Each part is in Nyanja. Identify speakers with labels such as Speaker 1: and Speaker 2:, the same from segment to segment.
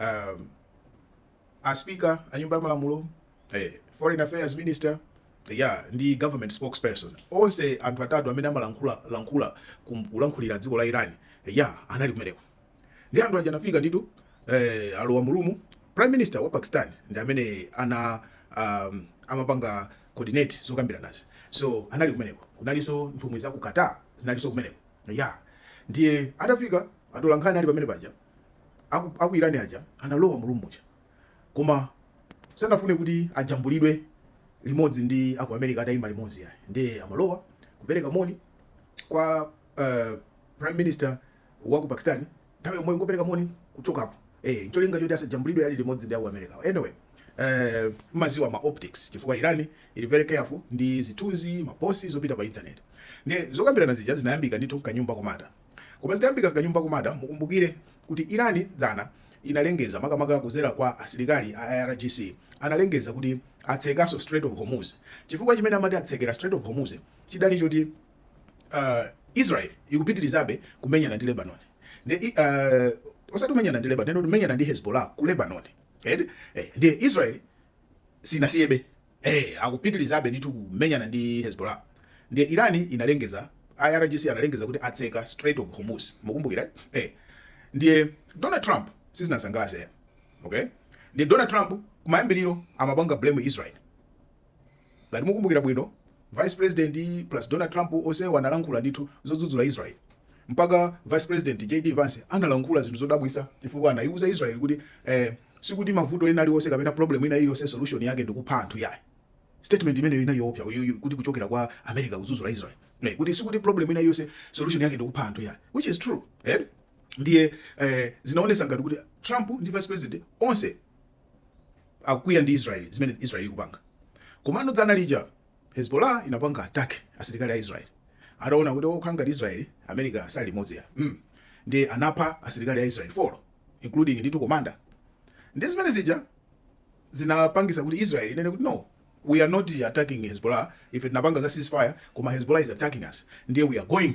Speaker 1: um, a speaker a nyumba ya malamulo eh, foreign affairs minister ya ndi government spokesperson onse anthu atatu amene amalankhula lankhula kum- kulankhulira dziko la iran ya anali kumeneko ndi anthu aja anafika nditu eh, alowa mulumu prime minister wa pakistan ndi amene ana um, amapanga coordinate zokambiranazi so anali kumeneko kunalinso nthumwi za ku qatar zinalinso kumeneko ya ndiye atafika atolankhani ali pamene paja aku, aku irani aja analowa mulumuja koma sanafune kuti ajambulidwe limodzi ndi aku america atayima limodzi yayi ndiye amalowa kupereka moni kwa uh, prime minister wa ku pakistan nthawi yomweyo ngopereka moni kuchokapo eh ncholinga choti asajambulidwe ali limodzi ndi aku America anyway eh maziwa ma optics chifukwa Iran ili very careful ndi zithunzi maposi zopita pa internet ndi zokambirana zija zinayambika ndithu mkanyumba komata koma zitayambika mkanyumba komata mukumbukire kuti Iran dzana inalengeza makamaka kuzera kwa asilikali a IRGC analengeza kuti atsekaso Strait of Hormuz chifukwa chimene amati atsekera Strait of Hormuz chinali choti uh, Israel ikupitirizabe kumenyana ndi Lebanon ndi uh, osati kumenyana ndi Lebanon kumenyana ndi Hezbollah ku Lebanon edi eh, ndiye Israel sinasiyebe eh akupitirizabe ndithu kumenyana ndi Hezbollah ndiye Iran inalengeza IRGC analengeza kuti atseka Strait of Hormuz mukumbukira eh ndiye Donald Trump sizinasangalatse okay ndiye Donald Trump kumayambiriro amapanga blame Israel Ngati mukumbukira bwino, vice president plus Donald Trump onsewo analankhula ndithu zodzudzula Israel. Mpaka vice president JD Vance analankhula zinthu zodabwitsa chifukwa anaiuza Israel kuti eh, sikuti mavuto ena aliwonse kapena problem ina iliyonse solution yake ndikupha anthu yayi. Statement imeneyo inali yoopsa kuti kuchokera kwa America kudzudzula Israel. Eh, kuti sikuti problem ina iliyonse solution yake ndikupha anthu yayi. Which is true. Eh? Ndiye eh, zinaonesa ngati kuti Trump ndi vice president onse akukwiya ndi Israel zimene Israel ikupanga. Komano dzana lija Hezbollah inapanga attack asilikali a Israel. Ataona kuti ukhala ngati Israel America sali limodzi ya. Mm. Ndiye anapha asilikali a Israel 4 including ndithu commander. Ndi zimene zija zinapangisa kuti Israel inene kuti no we are not attacking Hezbollah ife tinapanga za ceasefire koma Hezbollah is attacking us ndiye we are going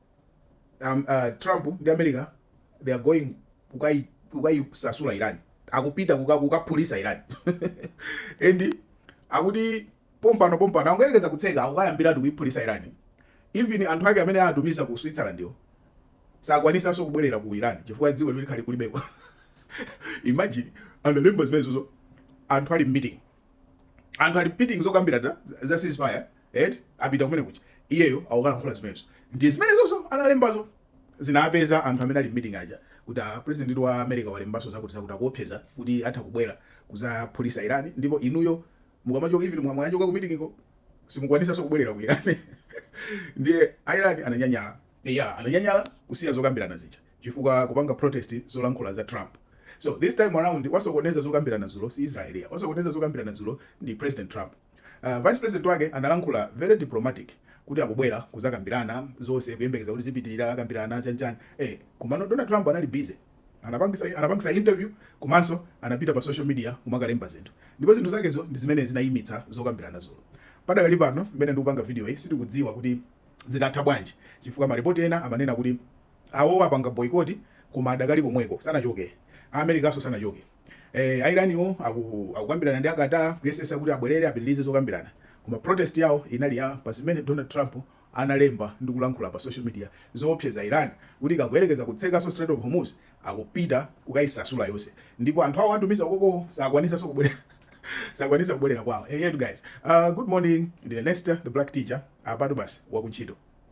Speaker 1: um, uh, trump ndi america they are going kukai- kukaisasula iran akupita kuka- kukaphulisa iran and akuti pompano pompano angoyerekeza kutseka akukayambiratu kuiphulisa iran even anthu ake amene atumiza ku switzerland yo sakwanisanso kubwerera ku iran chifukwa dziko lo likhala kulibeko imagine analemba zimenezozo anthu ali mmeeting anthu ali meeting zokambirana za ceasefire et apita kumene kuja iyeyo akukalankhula zimenezo ndi zimenezoso analembazo zinapeza anthu amene ali meeting aja kuti a president wa america walembaso zakuti zakuti akuopseza kuti atha kubwera kuzaphulisa irani ndipo inuyo mukamachoka even mwachoka ku meeting iko simukwanisaso kubwerera ku irani ndiye irani ananyanyala ya ananyanyala kusiya zokambirana zija chifukwa kupanga protest zolankhula za Trump so this time around wasokoneza zokambirana dzulo si Israel ya wasokoneza zokambirana dzulo ndi President Trump uh, Vice President wake analankhula very diplomatic kuti akubwera kuzakambirana zonse kuyembekeza kuti zipitirira akambirana chanichani eh komano Donald Trump anali busy anapangisa anapangisa interview komanso anapita pa social media kumakalemba zinthu ndipo zinthu zakezo ndi zimene zinayimitsa zokambirana dzulo padakali pano mmene ndikupanga video iyi sitikudziwa kuti zitatha bwanji chifukwa maripoti ena amanena kuti Awowo apanga boycott koma adakali komweko sanachoke. A Americanso sanachoke. A Iraniwo akukambirana ndi a Qatar kuyesesa kuti abwelere apitilize zokambirana. Koma protest yawo inali ya pa zimene Donald Trump analemba ndi kulankhula pa social media zowopseza Iran kuti ikagoyerekeza kutsekaso Strait of Hormuz akupita kukayisasula yonse ndipo anthu awo atumiza ukokoo sakwanisaso kubwelera sakwanisa kubwelera kwawo. Eyetu guys. Good morning ndine Nesta the black teacher apatu basi wakuntchito.